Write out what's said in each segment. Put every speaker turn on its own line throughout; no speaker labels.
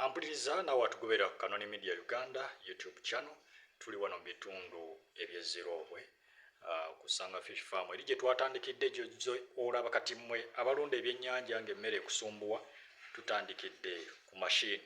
ampuliriza nawe atugobera ku kanoni media uganda youtube channel tuli wano mu bitundu ebyeziroobwe uh, kusanga fish farm eri gye twatandikidde gyozo olaba kati mmwe abalunda ebyennyanja ng'emmere ekusumbuwa tutandikidde ku mashini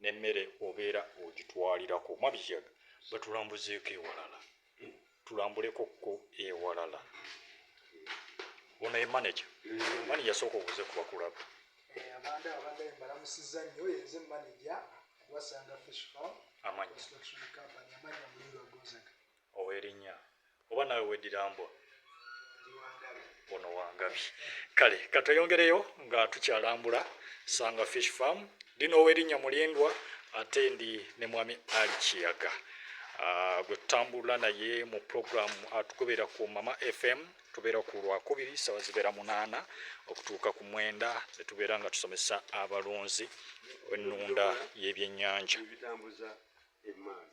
ne mere obera ogitwalirako oba biyaga batulambuzeko ewalala tulambuleko ko ewalala ono ye manager mani yasooka obuze ku bakulaba eh, abanda abanda
embalamusiza nnyo yenze manager wasanga fish farm amanyi amanyi muliro gonzaga Owe linya.
Oba nawe wedira mbwa. Ndi wangabi. Ono wangabi. Kale katweyongereyo nga tukyalambula Sanga Fish Farm. Ndi n'owe linya mulindwa ate ndi ne mwami Ali Kiyaga. Ah, gwe tutambula naye mu program atugobera ku mama fm tubeera ku lwakubiri sawa zibeera munaana okutuuka ku mwenda netubeera nga tusomesa abalunzi ennunda y'ebyennyanja ebitambuza
emaani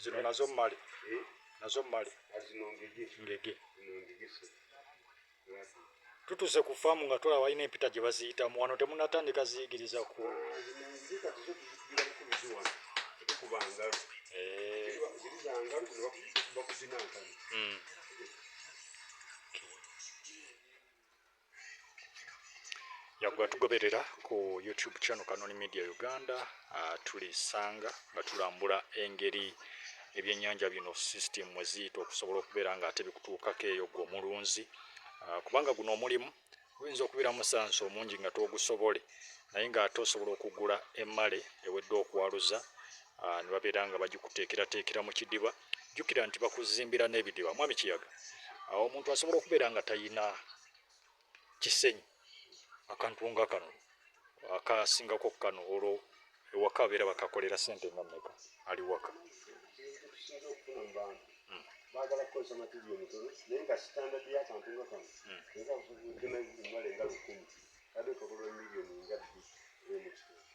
zino
nazo mmale eh? nazo mmale
ngege
tutuuse ku faamu nga tulaba balina empita gye baziyitamu wano temunatandika ziyigiriza ku yagwa tugoberera ku youtube channel kanoni media uganda uh, tulisanga nga tulambula engeri ebyenyanja bino system mweziyita okusobola okubeera nga ate bikutuukako eyo gwe omulunzi uh, kubanga guno omulimu guyinza okubeera musansi omungi nga twogusobole naye nga ate osobola okugula emmale ewedde okwaluza uh, ne babeera nga bagikuteekerateekera mu kidiba jukira nti bakuzimbira n'ebidiba mwami kiyaga awo omuntu asobola okubeera nga tayina kisenyi akantu nga kano akasingako kano olwo ewaka abeera bakakolera sente nga meka ali waka
bagala kukozesa matiri omutono naye nga sitandadi yakantu nga kano naye kakuvuddemu ebimale nga lukumi kade kakola miliyoni nga bbiri emukitundu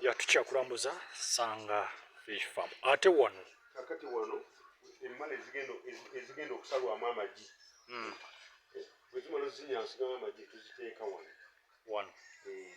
yatukyakulambuza sanga fish farm ate wano kakati wano
emmale ezigenda okusalwamu amagi hmm. bwezimala ozinyansigamu amagi tuziteeka wano wano eh.